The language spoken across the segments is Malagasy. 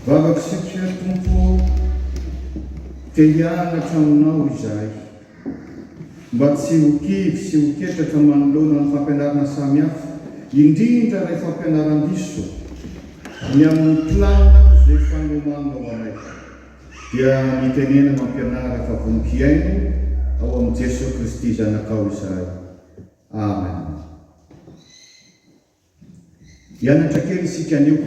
Vavaka satria Tompo ô, te hianatra Aminao izahay, mba tsy ho kivy sy ho ketraka manoloana ny fampianarana samihafa, indrindra ilay fampianaran-diso, ny amin'ny planina izay fanomananao anay. Dia mitenena mampianara fa vonon-kiaino ao amin'i Jesoa Kristy Zanakao izahay. Amen. Hianatra kely isika anio.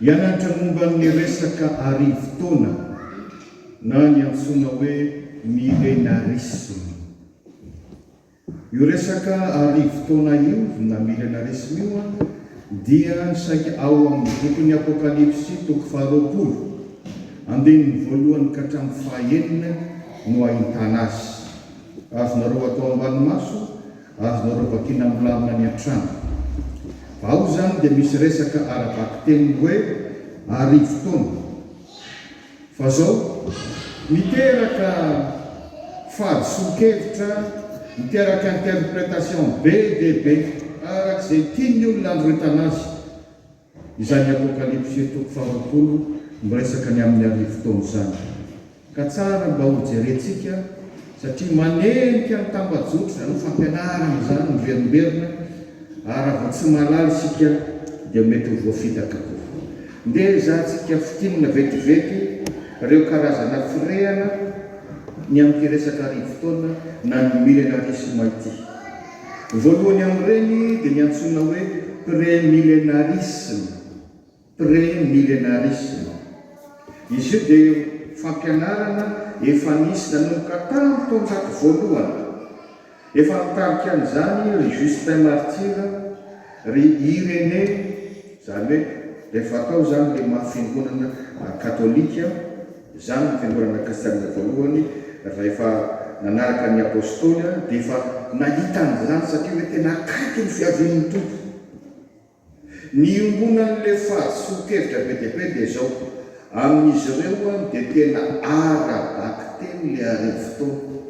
Hianatra momba ny resaka arivo taona na ny antsoina hoe Milenarisma. Io resaka arivo taona io na millénarisme io dia saika ao amin'ny bokin'ny Apokalypsy toko faharoapolo, andininy voalohany ka hatramin'ny fahaenina no ahitana azy. Azonareo atao ambany maso, azonareo vakina milamina any an-trano. Ao izany dia misy resaka ara-bakiteny hoe arivo taona. Fa zao, miteraka fahadisoan-kevitra, miteraka interpretation be dia be arak'izay tian'ny olona androritana azy izany apokalypsy toko faharoapolo miresaka ny amin'ny arivo taona izany. Ka tsara mba ho jerentsika satria manenika ny tambajotra izany hoe fampianarana izany ny verimberina ary raha vao tsy mahalala isika dia mety ho voafitaka koa. Ndeha ezahantsika fintinina vetivety ireo karazana firehana ny amin'ity resaka arivo-taona na ny milenarisma ity. Voalohany amin'ireny dia ny antsoina hoe pré-milenarisme. Pre-millenarisme. Izy io dia fampianarana efa nisy nanomboka tamin'ny taonjato voalohany. Efa nitarika an'izany ry Justin Martyr, ry Irénée, izany hoe rehefa tao izany ilay maha fiangonana katolika, izany no fiangonana kristianina voalohany, rehefa nanaraka ny Apôstôly dia efa nahita an'izany satria hoe tena akaiky ny fiavian'ny Tompo. Ny iombonan'ilay fahadisoan-kevitra be dia be dia izao, amin'izy ireo dia tena ara-bakiteny ilay arivo-taona.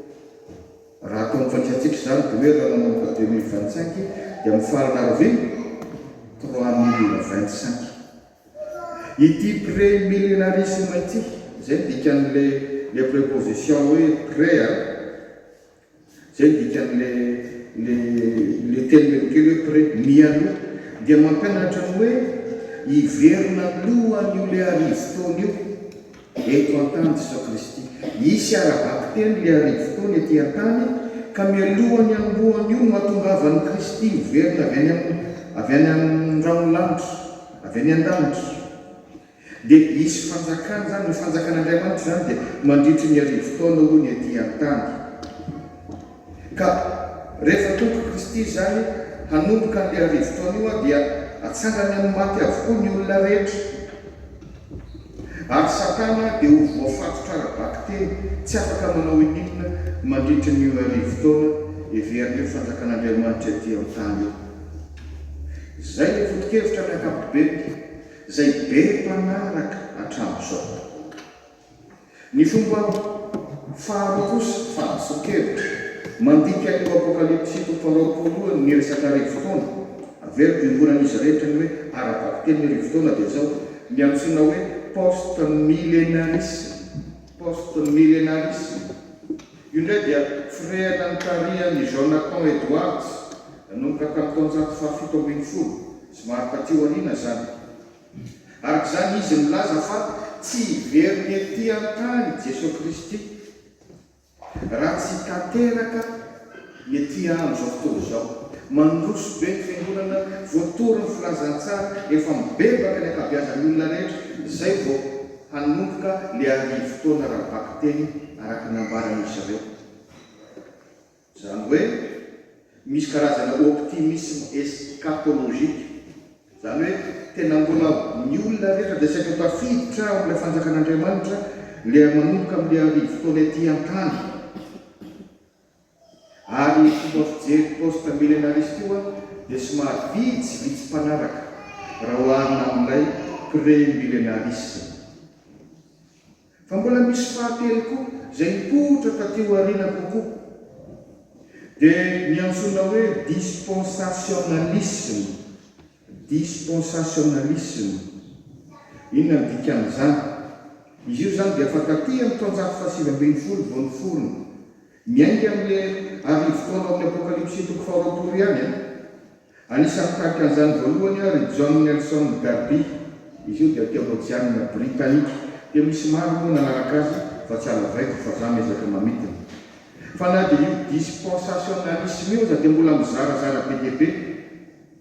Raha ataon'ny fantsikatsika izany, dia hoe raha nanomboka deux mille vingt cinq dia mifarana arivo trois mille vingt cinq. Ity pré-millenarisme ity, izay ny dikan'ilay ilay préposition hoe pré a, Izay ny dikan'ilay teny melokely hoe pre, mialoha. Dia mampianatra ny hoe hiverina aloha an'io ilay arivo taona io eto an-tany Jesoa Kristy. Hisy ara-bakiteny ilay arivo taona ety an-tany, ka mialoha ny hanombohan'io no hahatongavan'i Kristy miverina avy any amin'ny rahon'ny lanitra, avy any an-danitra. Dia hisy fanjakana izany. Ny fanjakan'Andriamanitra izany dia mandritry ny arivo taona hoy ny aty an-tany. Ka rehefa tonga Kristy izany hanomboka an'ilay arivo taona io dia hatsangany amin'ny maty avokoa ny olona rehetra. Ary Satana dia ho voafatotra ara-bakiteny, tsy afaka manao ininona mandritry ny io arivo taona heverin'io fanjakan'Andriamanitra ety an-tany io. Izay ilay foto-kevitra amin'ny ankapobeny. izay be mpanaraka hatramin'izao tokoa. Ny fomba faharoa kosa, fahadisoan-kevitra, mandika io Apokalypsiko faharoapolo io ny resaka arivo taona. Averiko iombonan'izy rehetra ny hoe ara-bakiteny ny arivo taona dia izao, ny antsoina hoe post-milenarisme, post-milenarisme. Io indray dia firehana notarihan'i Jonathan Edwards nanomboka tamin'ny taonjato fahafito ambin'ny folo sy maro taty aoriana izany. Araka izany, izy milaza fa tsy hiverina ety an-tany Jesoa Kristy raha tsy tanteraka ny aty andro zao fotoana izao mandroso be ny fiangonana voatory ny filazantsara efa mibebaka ny ankabeazan'ny olona rehetra zay vao hanomboka le arivo taona raha bakiteny araka ny ambaran'izy zareo zany hoe misy karazana optimisme escatologique zany hoe tena mbola ny olona rehetra dia saika ho tafiditra ao amle fanjakan'Andriamanitra le manomboka amle arivo taona ety antany Ary ny fomba fijery post millenariste io an dia somary vitsivitsy mpanaraka raha oharina amin'ilay pré-millenarisme. Fa mbola misy fahatelo koa izay nipoitra taty aoriana kokoa dia ny antsoina hoe dispensationalisme. Dispensationalisme, inona no dikan'izany? Izy io izany dia fa taty amin'ny taonjato fahasivy ambin'ny folo vao niforona. Miainga amin'ilay arivo taona ao amin'ny Apokalypsy toko faharoapolo ihany an. Anisan'ny nitarika an'izany voalohany ry John Nelson Darby. Izy io dia teolojianina britanika, dia misy maro moa nanaraka azy fa tsy halavaiko fa za miezaka mamintina fa na dia io dispensationalisme io aza dia mbola mizarazara be dia be.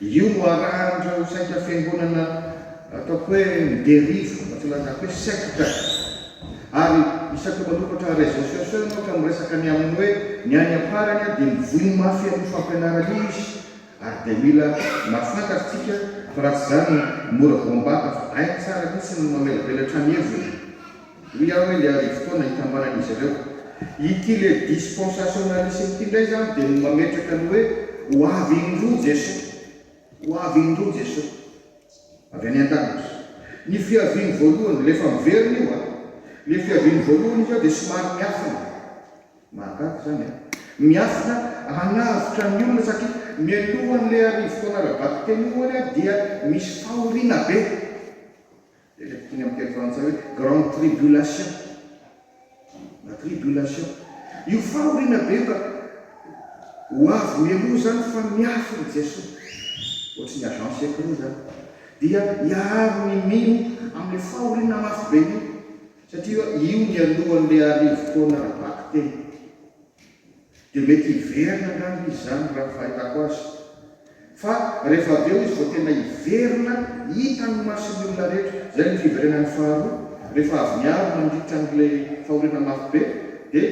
Io no arahan'ireo saika fiangonana ataoko hoe miderivo, na tsy lazaiko hoe secte. Ary isaky manoratra réseaux sociaux ianao ka miresaka ny amin'ny hoe ny any am-parany dia mivoy mafy an'io fampianarana io izy ary dia mila mahafantatra tsika fa raha tsy izany mora voambata fa hainy tsara mihitsy ny mamelabelatra ny heviny. Hoy aho hoe le arivo taona hikambanan'izy ireo. Ity le dispensationalisme ity indray izany dia ny mametraka ny hoe ho avy indroa Jesoa. Ho avy indroa Jesoa. Avy any an-danitra. Ny fiaviany voalohany, le efa miverina io an. Le fiaviany voalohany izy ao dia somary miafina. Mahagaga izany an. Miafina hanavotra ny olona satria mialohan'ilay arivo taona ara-bakiteny io hono dia misy fahoriana be. Ilay bokin'ny amin'ny teny frantsay hoe Grande Tribulation na Tribulation. Io fahoriana be fa ho avy mialoha izany fa miafina i Jesoa, ohatry ny agent secret izany, dia hiaro ny mino amin'ilay fahoriana mafy be io, satria io nialohan'ilay arivo taona ara-bakiteny. Dia mety hiverina angamba izy izany raha ny fahitako azy. Fa rehefa avy eo izy vao tena hiverina hitan'ny mason'ny olona rehetra. Izay ny fiverenany faharoa. Rehefa avy niaro nandritra an'ilay fahoriana mafy be dia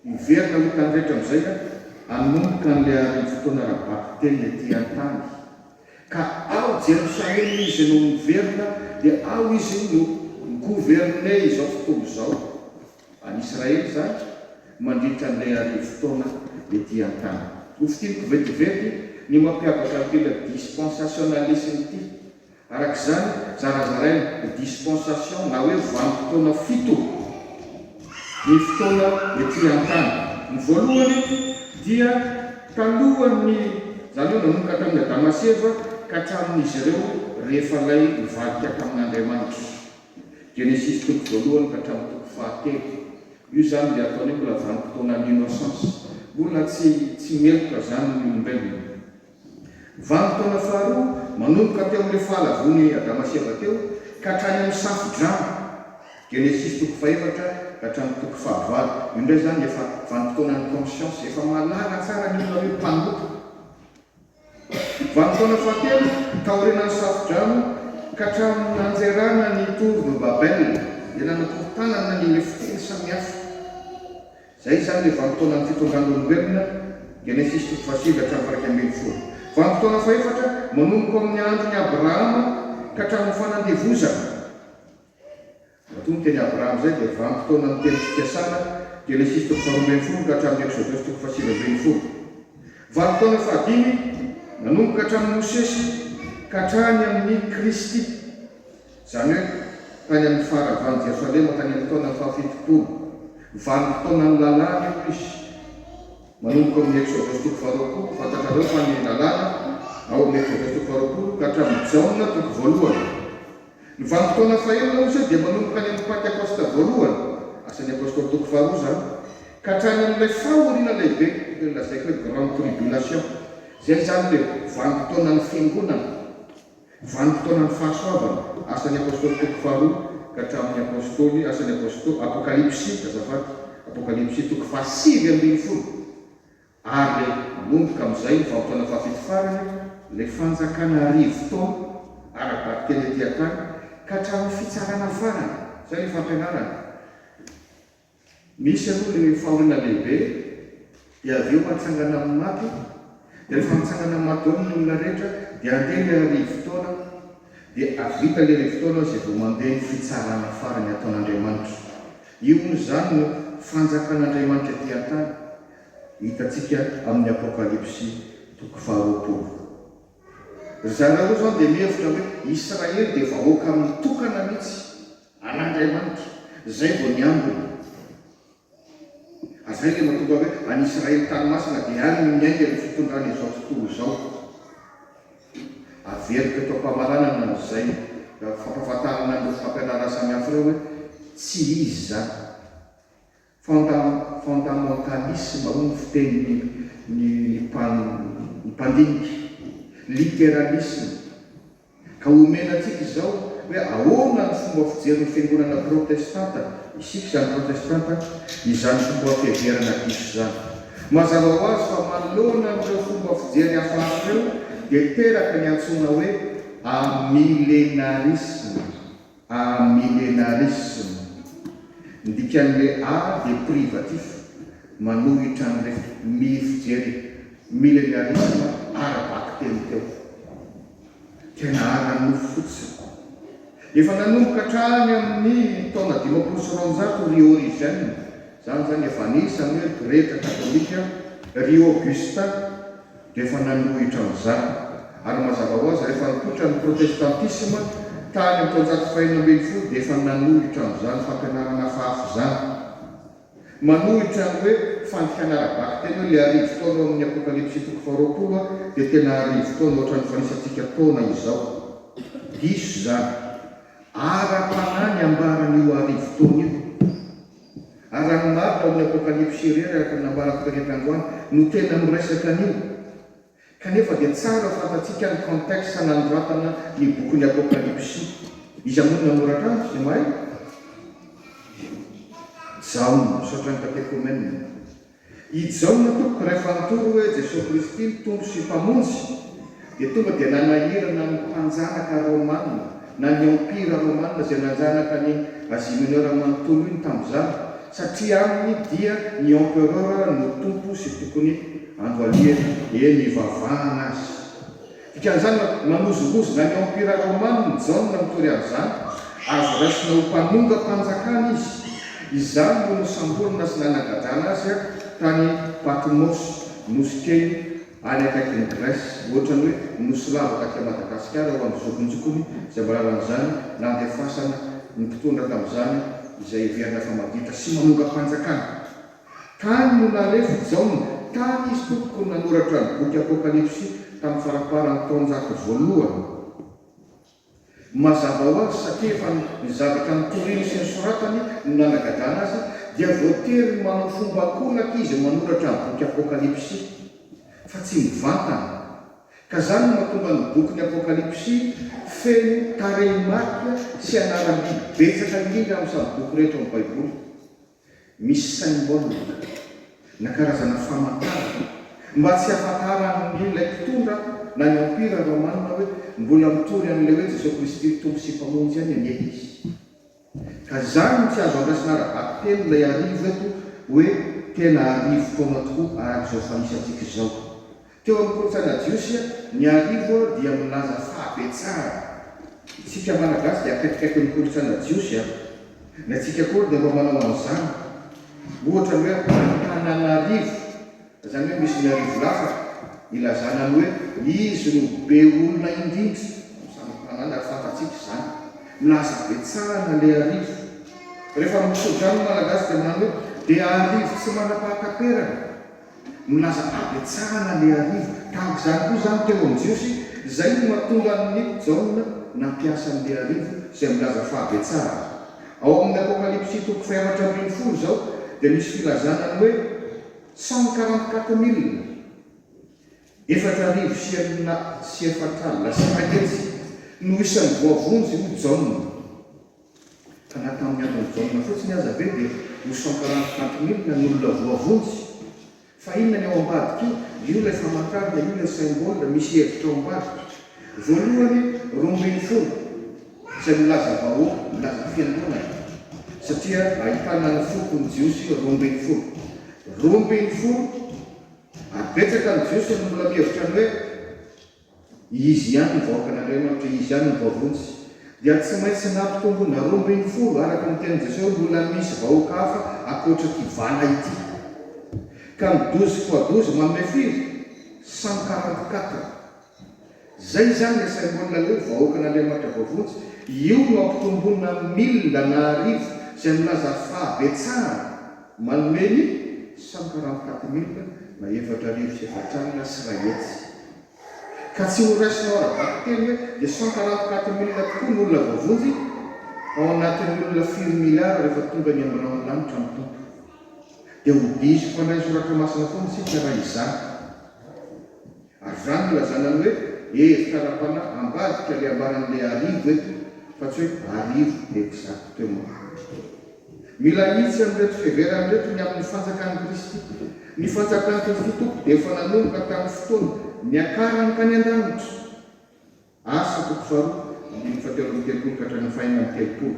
hiverina ho hitan'ny rehetra amin'izay aho. Hanomboka an'ilay arivo fotoana ara-bakiteny ety an-tany. Ka ao Jerosalema izy no miverina dia ao izy no mi-gouverner izao fotoana izao. Any Israely izany, mandritra an'ilay arivo taona ety an-tany. Nofintiniko vetivety ny mampiavaka an'ity ilay dispensationalisme ity. Araka izany, zarazaraina ho dispensation na hoe vanim-potoana fito ny fotoana ety an-tany. Ny voalohany dia talohan'ny, izany hoe nanomboka tamin'i Adama sy Eva ka hatramin'izy ireo rehefa lay nivadika tamin'Andriamanitra. Genesisy toko voalohany ka hatramin'ny toko fahatelo. Io izany ilay ataony hoe mbola vanim-potoana ny innocence. Mbola tsy tsy meloka izany ny olombelona. Vanim-potoana faharoa, manomboka teo amin'ilay fahalavoan'i Adama sy Eva teo ka hatrany amin'ny Safodrano, Genesisy toko fahefatra ka hatramin'ny toko fahavalo. Io indray izany efa vanim-potoanan'ny conscience. Efa mahalala tsara ny olona hoe mpanompo. Vanim-potoana fahatelo, taorianan'ny safodrano ka hatramin'ny nanjerana ny Tour de Babel, dia nanakorotanana ny lefiteny samihafa. Izay izany ilay vanim-potoanan'ny fitondran'olombelona, Genesisy toko fahasivy hatramin'ny iraika ambin'ny folo. Vanim-potoana fahefatra, manomboka ao amin'ny andron'i Abrahama ka hatramin'ny fanandevozana. Matoa ny teny Abraham izay dia vanim-potoana ny teny fikasana, Genesisy toko faharoa ambin'ny folo ka hatramin'ny Eksodosy toko fahasivy ambin'ny folo. Vanim-potoana fahadimy, nanomboka hatramin'i Mosesy ka hatrany amin'i Kristy, izany hoe tany amin'ny faharavan'i Jerosalema tany amin'ny taona fahafitopolo. Vanim-potoanan'ny Lalàna io izy. Manomboka ao amin'ny Eksodosy toko faharoapolo, fantatrareo fa ny Lalàna ao amin'ny Eksodosy toko faharoapolo ka hatramin'i Jaona toko voalohany. Ny vanim-potoana fahenina kosa dia manomboka any amin'ny Pantekosta voalohany, Asan'ny Apostoly toko faharoa izany, ka hatrany amin'ilay fahoriana lehibe, toy ny lazaiko hoe Grande Tribulation, izay izany ilay vanim-potoanan'ny Fiangonana, vanim-potoanan'ny fahasoavana, Asan'ny Apostoly toko faharoa ka hatramin'ny Apostoly, Asan'ny Apostoly, Apokalypsy, azafady, Apokalypsy toko fahasivy ambin'ny folo, Ary le manomboka amin'izay ny vanim-potoana fahafito farany, le fanjakana arivo taona ara-daty teny aty an-tany, ka hatramin'ny fitsarana farany, izay le fampianarana. Misy aloha le fahoriana lehibe, dia avy eo hatsangana amin'ny maty, dia rehefa mitsangana amin'ny maty daholo ny olona rehetra, dia handeha le arivo taona, dia hahavita le arivo taona izay vao mandeha ny fitsarana farany ataon'Andriamanitra. Io hono izany no fanjakan'Andriamanitra ety an-tany. hitantsika amin'ny Apokalypsy toko faharoapolo. Ry zareo izao dia mihevitra hoe Israely dia vahoaka mitokana mihitsy an'Andriamanitra, izay vao ny ambiny. Ary izay ilay mahatonga hoe any Israely tany masina dia any no miainga io fitondrana izao tontolo izao. Averiko eto am-pamaranana izay fampahafantarana an'ireo fampianarana samihafa ireo hoe tsy izy izany. Fondà, fondamentalisme, hoy ny fitenin'ny ny ny mpandinika. Literalisme. Ka omena antsika izao hoe ahoana ny fomba fijerin'ny fiangonana protestanta, isika izany protestanta, izany fomba fiheverana diso izany. Mazava ho azy fa manoloana an'ireo fomba fijery hafahafa ireo dia teraka ny antsoina hoe amilenarisme. Amillenarisme, ny dikan'ilay A dia privatif, manohitra an'ilay fitopmiy fijery millenarisme ara-bakiteny teo. Tena ara-nofo fotsiny. Efa nanomboka hatrany amin'ny taona dimampolo sy roanjato ry Origen, izany izany efa anisan'ny hoe pretra katolika, ry Augustin, dia efa nanohitra an'izany, ary mazava ho azy, rehefa nipoitra ny protestantisma tany amin'ny taonjato fahenina ambin'ny folo dia efa nanohitra an'izany fampianarana hafahafa izany. Manohitra ny hoe fandikana ara-bakiteny hoe ilay arivo taona ao amin'ny Apokalypsy toko faharoapolo aho, dia tena arivo taona ohatran'ny fanisantsika taona izao. Diso izany. Ara-panahy ny ambara an'io arivo taona io. Ary raha ny maro tao amin'ny Apokalypsy irery araka ny nambarako taretra androany no tena miresaka an'io, kanefa dia tsara fantatsika ny contexte nanoratana ny bokin'ny Apokalypsy. Iza moa no nanoratra azy? Izay mahay? Jaona, misaotra ny Katekomenina. I Jaona tompoko iray fanontolo hoe Jesoa Kristy Mpitombo sy Mpamonjy dia tonga dia nanahirana ny mpanjanaka Romana na ny Empira Romana izay nanjanaka an'i Asia Mineura manontolo iny tamin'izany satria aminy dia ny Empereur no Tompo sy tokony andohalihana eny ivavahana azy Dikan'izany, namozongozona ny Empira Romaniny Jaona mitory amin'izany. Azo raisina ho mpanongam-panjakana izy. Izany no nosamborina sy nanagadrana azy tany Patmos, nosy kely any akaikin'i Grèce. Hoatran'ny hoe nosy lava taty Madagasikara ho an'ny zokinjokiny izay mba lalan'izany nandefasana ny mpitondra tamin'izany izay heverina fa maditra sy manongam-panjakana. Tany no nalefo i Jaona, tany izy tompoko no nanoratra ny boky Apokalypsy tamin'ny faramparan'ny taonjato voalohany. Mazava ho azy satria efa ny zavatra notoriny sy nosoratany no nanagadrana azy, dia voatery ny manao fomba ankolaka izy manoratra ny boky Apokalypsy, fa tsy mivantana. Ka izany no mahatonga ny bokin'ny Apokalypsy feno tarehimarika sy anaram-biby betsaka indrindra amin'ny samy boky rehetra ao amin'ny Baiboly. Misy symbole na karazana famantarana mba tsy hahafantaran'ny ilay mpitondra na ny Empira Romana hoe mbola mitory an'ilay hoe Jesoa Kristy Tompo sy Mpamonjy ihany anie izy. Ka izany no tsy azo andraisana ara-bakiteny ilay arivo eto hoe tena arivo taona tokoa araka izao fanisantsika izao. Teo amin'ny kolontsaina jiosy, ny arivo dia milaza fahabetsahana. Isika Malagasy dia akaikikaiky ny kolontsaina jiosy, na isika akory dia mba manao an'izany. Ohatra ny hoe Antananarivo, izany hoe misy ny arivo lafatra, ilazana ny hoe izy no be olona indrindra amin'ny samy tanàna ary fantatsika izany. Milaza habetsahana ilay arivo. Rehefa mitso-drano ny Malagasy dia manao hoe be arivo tsy manam-pahataperana. Milaza habetsahana ny arivo. Tahaka izany koa izany teo amin'ny Jiosy, izay no mahatonga an'i Jaona nampiasa ny arivo izay milaza fahabetsahana. Ao amin'ny Apokalypsy toko fahaefatra ambin'ny folo izao dia misy filazana ny hoe cent quarante-quatre mille, efatra arivo sy enina sy efatra alina sy iray hetsy, no isan'ny voavonjy ho Jaona. Ka na tamin'ny andron'i Jaona fotsiny aza ve dia ho sankaranty tampin'inona ny olona voavonjy? Fa inona ny ao ambadika io? Io ilay famantarana, io ilay symbole, misy hevitra ao ambadika. Voalohany, roa ambin'ny folo, izay milaza vahoaka, milaza fiangonana, satria ahitana ny foko ny Jiosy roa ambin'ny folo. Roa ambin'ny folo, ary betsaka ny Jiosy no mbola mihevitra ny hoe, Izy ihany ny vahoakan'Andriamanitra, Izy ihany no voavonjy. Dia tsy maintsy nampitombona roa ambin'ny folo, araka ny tenin'i Jesosy, hoe mbola misy vahoaka hafa ankoatra ity vala ity. Ka ny douze fois douze manome firy? Cent quarante quatre. Izay izany ilay symbole ilay hoe vahoakan'Andriamanitra voavonjy. Io no ampitombona amin'ny mille na arivo izay milaza fahabetsahana. Manome ny sankaranty quatre mille na efatra arivo sy efatsy alina sy iray hetsy. Ka tsy ho raisinao ara-bakiteny hoe dia sankaranty quatre mille tokoa ny olona voavonjy ao anatin'ny olona firy miliara rehefa tonga ny amin'ny rahon'ny lanitra ny Tompo. Dia ho diso mpandray soratra masina foana isika raha izany. Ary izany no ilazana ny hoe hevitra ara-panahy ambadika ilay ambaran'ilay arivo eto fa tsy hoe arivo exact teo ambany. Mila ahitsy amin'ireto fiheverana ireto ny amin'ny fanjakan'i Kristy. Ny fanjakan'i Kristy Tompo dia efa nanomboka tamin'ny fotoana niakarany tany an-danitra. Asa, toko faharoa ambin'ny folo teo ambin'ny telopolo ka hatramin'ny fahenina amby telopolo.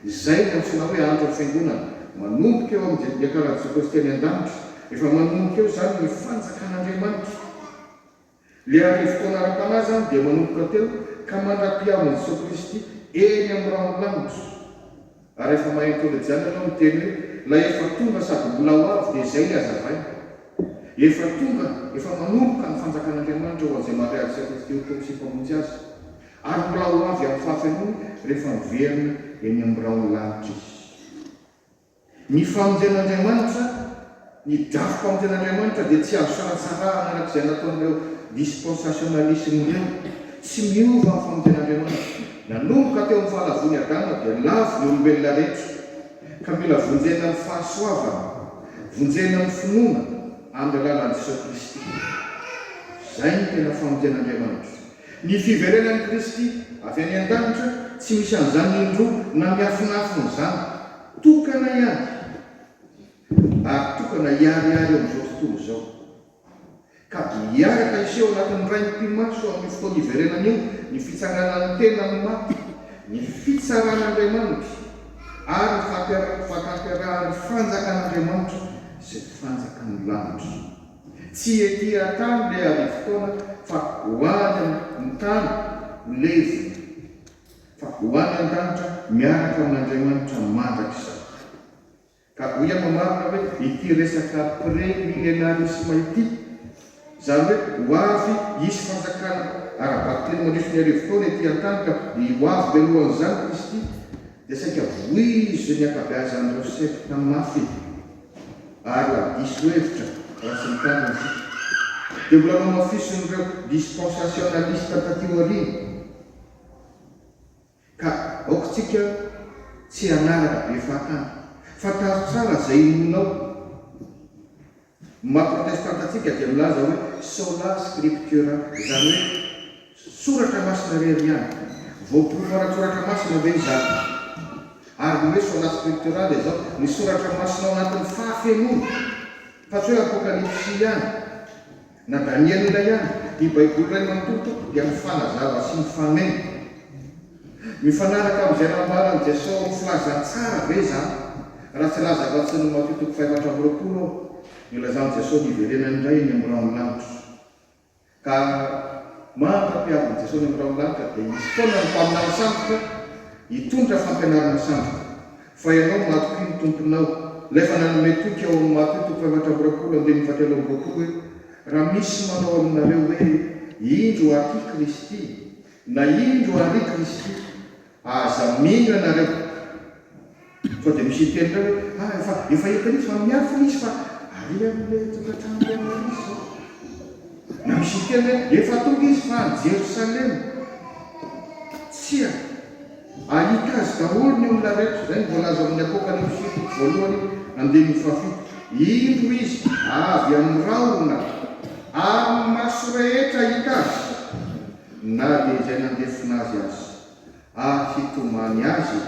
Izay no antsoina hoe andron'ny Fiangonana. Manomboka eo amin'ny Jodiaka Ara-Jentekoste any an-danitra. Efa manomboka eo izany ny Fanjakan'Andriamanitra. Ilay Arivotaona ara-panahy izany dia manomboka teo ka mandra-pihavin'i Jesoa Kristy eny amin'ny ranon'ny lanitra. Ary efa mahay teolojiana ianao miteny hoe ilay efa tonga sady mbola ho avy dia izay ny hazavaina. Efa tonga, efa manomboka ny fanjakan'Andriamanitra ho an'izay mandray azy Ieso Kristy ho Tompo sy Mpamonjy azy. Ary mbola ho avy amin'ny fahafenoany rehefa miverina eny amin'ny biraon'ny lanitra izy. Ny famonjen'Andriamanitra. Ny drafoka amin'ny Tenin'Andriamanitra dia tsy azo sanatsarahana araka izay nataon'ireo dispensationalisme ireo. Tsy miova ny famonjen'Andriamanitra. Nanomboka teo amin'ny fahalavoan'i Adama dia lavo ny olombelona rehetra, ka mila vonjena amin'ny fahasoavana, vonjena amin'ny finoana amin'ny alalan'i Jesoa Kristy. Izay no tena famonjen'Andriamanitra. Ny fiverenan'i Kristy avy any an-danitra tsy misy an'izany indroa na miafinafina izany. Tokana ihany. Mpivaro tokana hiharihary eo amin'izao tontolo izao, ka hiaraka hiseho ao anatin'ny Rain'ny mpimaso amin'io fotoana iverenana io ny fitsanganan'ny tena amin'ny maty, ny fitsaran'Andriamanitra, ary ny fahatanterahan'ny Fanjakan'Andriamanitra sy ny Fanjakan'ny lanitra. Tsy ety an-tany ilay arivo-taona, fa ho any amin'ny tany ho levona, fa ho any an-danitra miaraka amin'Andriamanitra mandrakizay. Ka hoy aho mamaritra hoe ity resaka pré-millénarisme ity, izany hoe ho avy hisy fanjakana ara-bato telo mandritry ny arivo taona ety an-tany ka ny ho avy mialohan'izany Kristy dia saika voizin'ny ankabeazan'ireo sekta mafy ary ho diso hevitra raha tsy mitandrina isika. Dia mbola nohamafisin'ireo dispensationalistes taty aoriana. Ka aoka tsika tsy hanaraka be fahatany. Fantaro tsara zay inoanao. Ny maha protestanta antsika dia milaza hoe sola scriptura, izany hoe soratra masina irery ihany. Voaporofo ara-tsoratra masina ve izany? Ary ny hoe sola scriptura dia izao, ny soratra masina ao anatin'ny fahafenoany, fa tsy hoe apokalipsy ihany. Na Daniela indray aza, ity Baiboly iray manontolo tokoa dia mifanazava sy mifameno. Mifanaraka amin'izay nambaran'i Jesosy ao amin'ny Filazantsara ve izaho raha tsy hilaza afa-tsy ny Matio toko fahefatra amby roapolo aho? Nilazan'i Jesosy ny hiverenany indray eny amin'ny rahon'ny lanitra. Ka mandra-piavin'i Jesosy eny amin'ny rahon'ny lanitra dia hisy foana ny mpaminany sandoka hitondra fampianarana sandoka. Fa ianao matokia ny Tomponao. Ilay efa nanome toky ao amin'ny Matio toko fahefatra amby roapolo andininy fahatelo amby roapolo hoe, Raha misy manao aminareo hoe, Indro aty Kristy! na Indro ary Kristy! aza mino ianareo. Fa dia misy hiteny indray hoe, Ah, efa, efa hitan'izy fa miafina izy fa ary amin'ilay tokantrano lehibe izy izao. Na misy hiteny hoe, Efa tonga izy fa any Jerosalema. Tsia. Ahita azy daholo ny olona rehetra, izay no voalaza amin'ny Apokalypsy fito, voalohany andininy fahafito. Indro izy avy amin'ny rahona, ary ny maso rehetra hahita azy, na dia izay nandefona azy aza, ary hitomany azy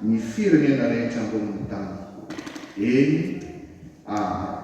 ny firenena rehetra ambonin'ny tany. Eny, aa.